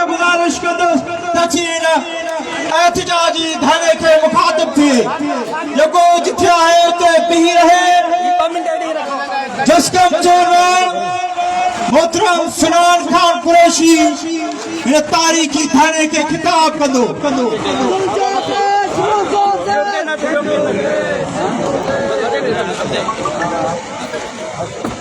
ته گذارش ڪندس ته جي ان احتجاجي ڌرڻي کي مخاطب ٿئي جيڪو جٿي آهي اتي بيهي رهي. جسقم چيئرمين محترم سنان خان قريشي هن تاريخي ڌرڻي کي خطاب ڪندو.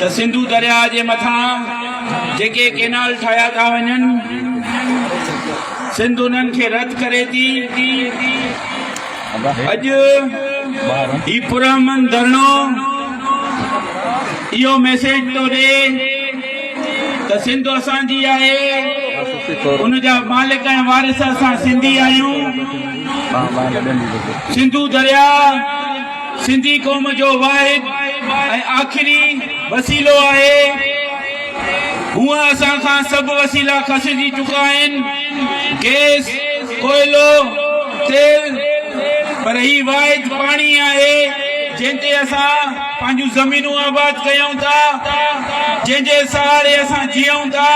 ته سنڌو درياهه جي مٿان جيڪي ڪينال ٺاهيا ٿا وڃن، سنڌ انهن کي رد ڪري ٿي. اڄ هي پرامن ڌرڻو اهو ميسيج ٿو ڏي ته سنڌ اسان جي آهي، ان جا مالڪ ۽ وارث اسان سنڌي آهيون. سنڌو درياهه سنڌي قوم جو واحد ۽ آخري وسيلو آهي. هونئن اسان کان سڀ وسيلا کسجي چڪا آهن، گئس، ڪوئلو، تيل، پر هي واحد پاڻي آهي، جنهن تي اسان پنهنجون زمينون آباد ڪيون ٿا، جنهن جي سهاري اسان جيئون ٿا،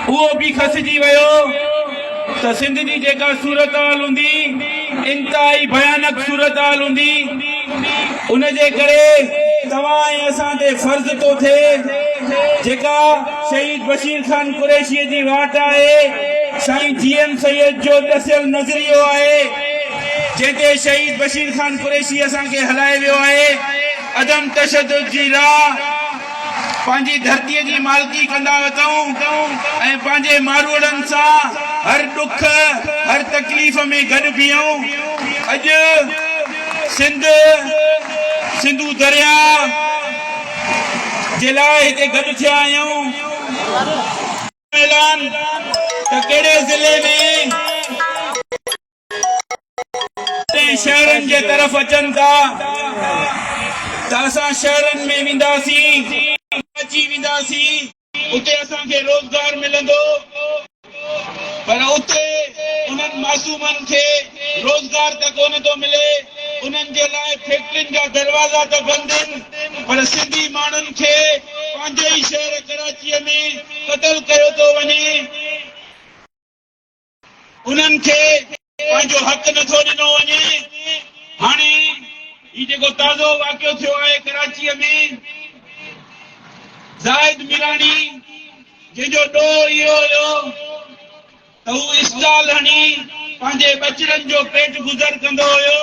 اهو به کسجي ويو. ته سنڌ جي جيڪا صورتحال هوندي انتهائي ڀيانڪ صورتحال هوندي ان جي ڪري توهان ۽ اسان تي فرض ٿو ٿئي جيڪا شهيد بشير خان قريشيء جي واٽ آهي سائين جي ايم سيد جو ڏسيل نظريو آهي جنهن تي شهيد بشير خان قريشي اسان کي هلائي ويو آهي عدم تشدد جي راهه پنهنجي ڌرتيء جي مالڪي ڪندا اٿئون ۽ پنهنجي ماروئڙن سان هر ڏک هر تڪليف ۾ گڏ بيهئون. اڄ سنڌ سنڌو درياء جي لاء هتي گڏ ٿيا آهيون. اعلان ته ڪهڙي ضلعي ۾. ۽ شهرن جي طرف اچن ٿا ته اسان شهرن ۾ وينداسين اچي وينداسين اتي اسان کي روزگار ملندو پر اتي انهن معصومن کي روزگار ته ڪونه ٿو ملي انهن جي لاء فيڪٽرين جا دروازا ته بند ان پر سنڌي ماڻهن کي پنهنجي ئي شهر ڪراچي ۾ قتل ڪيو ٿو وڃي. انهن کي پنهنجو حق نٿو ڏنو وڃي، هاڻي هي جيڪو تازو واقعو ٿيو آهي ڪراچيء ۾ زاهد ميراڻي جنهن جو ڏوهه اهو هيو ته هو اسٽال هڻي پنهنجي ٻچڙن جو پيٽ گذر ڪندو هيو،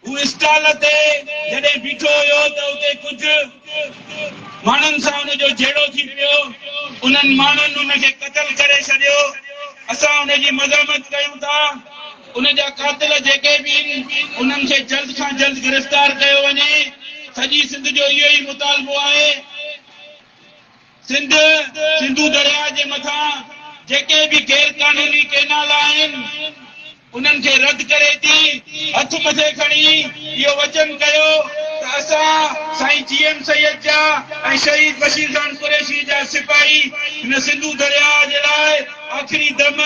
هو اسٽال تي جڏهن بيٺو هيو ته اتي ڪجهه ماڻهن سان ان جو جهيڙو ٿي پيو. انهن ماڻهن ان کي قتل ڪري ڇڏيو. اسان ان جي مزاحمت ڪيون ٿا. ان جا قاتل جيڪي به آهن انهن کي جلد کان جلد گرفتار ڪيو وڃي. سڄي سنڌ جو اهو ئي مطالبو آهي. سنڌ، سنڌو درياهه جي مٿان جيڪي به غير قانوني ڪئنال آهن انهن کي رد ڪري ٿي، هٿ مٿي کڻي اهو وچن ڪيو ته اسان سائين جي ايم سيد جا ۽ شهيد بشير خان قريشي جا سپاهي هن سنڌو درياهه جي لاء آخري دم،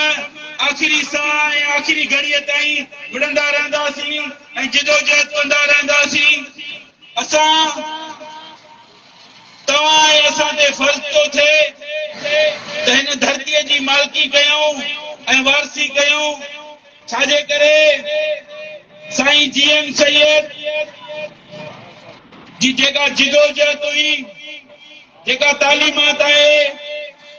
آخري ساهه ۽ آخري گهڙيء تائين وڙهندا رهنداسين ۽ جدوجهد ڪندا رهنداسين. اسان. توهان ۽ اسان تي فرض ٿو ٿئي ته هن ڌرتيء جي مالڪي ڪيون ۽ وارثي ڪيون، ڇا جي ڪري سائين جي ايم سيد جي جيڪا جدوجهد هئي، جيڪا تعليمات آهي،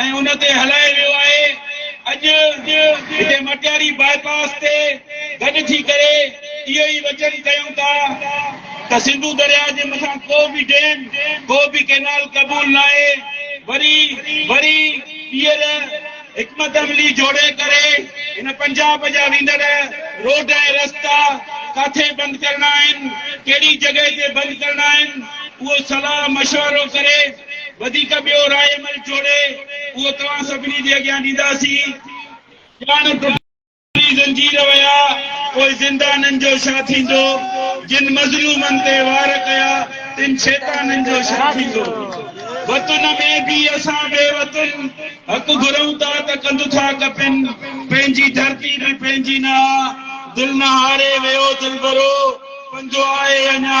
۽ ان تي هلايو ويو آهي اڄ هتي مٽياري باء پاس تي گڏ ٿي ڪري اهو ئي وچن ڪيون ٿا ته سنڌو درياء جي مٿان ڪو به ڊيم ڪو به ڪينال قبول ناهي وري وري ٻيهر حڪمت عملي جوڙي ڪري هن پنجاب جا ويندڙ روڊ ۽ رستا ڪاٿي بند ڪرڻا آهن ڪهڙي جڳهه تي بند ڪرڻا آهن اهو صلاح مشورو ڪري وڌيڪ ٻيو راء عمل جوڙي اهو توهان سڀني جي اڳيان ڏينداسين. ڄاڻ ٽٽي زنجير ويا پوء زندانن جو ڇا ٿيندو؟ جن مظلومن تي وار ڪيا تن شيطانن جو ڇا ٿيندو؟ وطن ۾ به اسان بي وطن حق گهرون ٿا ته ڪنڌ ٿا ڪپين پنهنجي ڌرتي به پنهنجي نه آ دل نه هاري ويو دلبرو پنهنجو آهي اڃا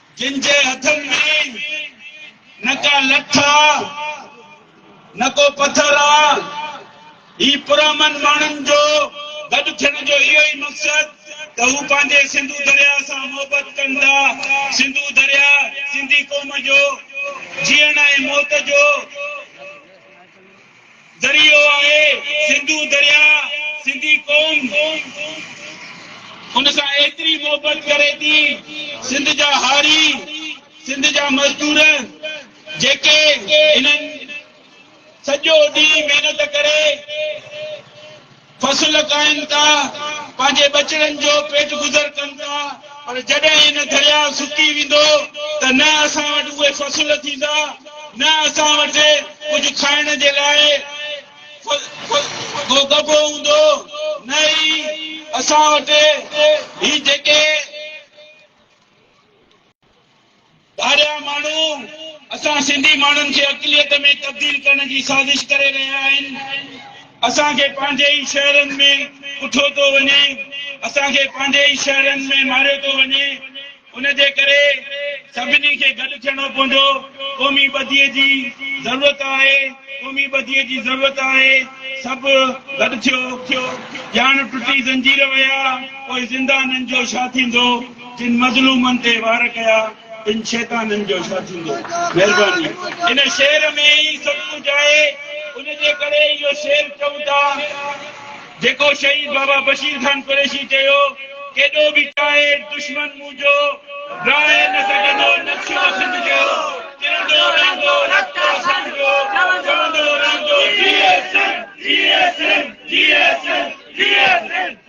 جن جي هٿن ۾ نه ڪا لٺ آ نه ڪو پٿر آ. هي پرامن ماڻهن جو گڏ ٿيڻ جو اهو ئي مقصد ته هو پنهنجي سنڌو درياهه سان محبت ڪن ٿا. سنڌو درياهه سنڌي قوم جو جيئڻ ۽ موت جو. ذريعو آهي سنڌو درياء سنڌي قوم ان سان ايتري محبت ڪري ٿي سنڌ جا هاري سنڌ جا مزدور جيڪي انهن سڄو ڏينهن محنت ڪري فصل ڪائين ٿا، پنهنجي ٻچڙن جو پيٽ گذر ڪن ٿا، پر جڏهن هن درياء سڪي ويندو ته نه اسان وٽ اهي فصل ٿيندا، نه اسان وٽ ڪجهه کائڻ جي لاء ڪو ڳڀو هوندو، نه ئي اسان وٽ هي جيڪي. ٻاهريان ماڻهو اسان سنڌي ماڻهن کي اقليت ۾ تبديل ڪرڻ جي سازش ڪري رهيا آهن. اسان کي پنهنجي ئي شهرن ۾ ڪٺو ٿو وڃي، اسان کي پنهنجي ئي شهرن ۾ ماريو ٿو وڃي. ان جي ڪري سڀني کي گڏ ٿيڻو پوندو. قومي ٻڌيء جي ضرورت آهي، قومي ٻڌيء جي ضرورت آهي. سڀ گڏ ٿيو. ڄاڻ ٽٽي زنجير ويا، پوء زندانن جو ڇا ٿيندو؟ جن مظلومن تي وار ڪيا تن شيطانن جو ڇا ٿيندو؟ مهرباني ان شعر ۾ ئي سڀ ڪجهه آهي ان جي ڪري اهو شعر چئون ٿا جيڪو شهيد بابا بشير خان قريشي چيو ڪيڏو به چاهي دشمن مون جو راهي نه سگهندو نقشو سنڌ جو چرندو رهندو رت اسان جو چوندو رهندو جيئي سنڌ جيئي سنڌ جيئي سنڌ جيئي سنڌ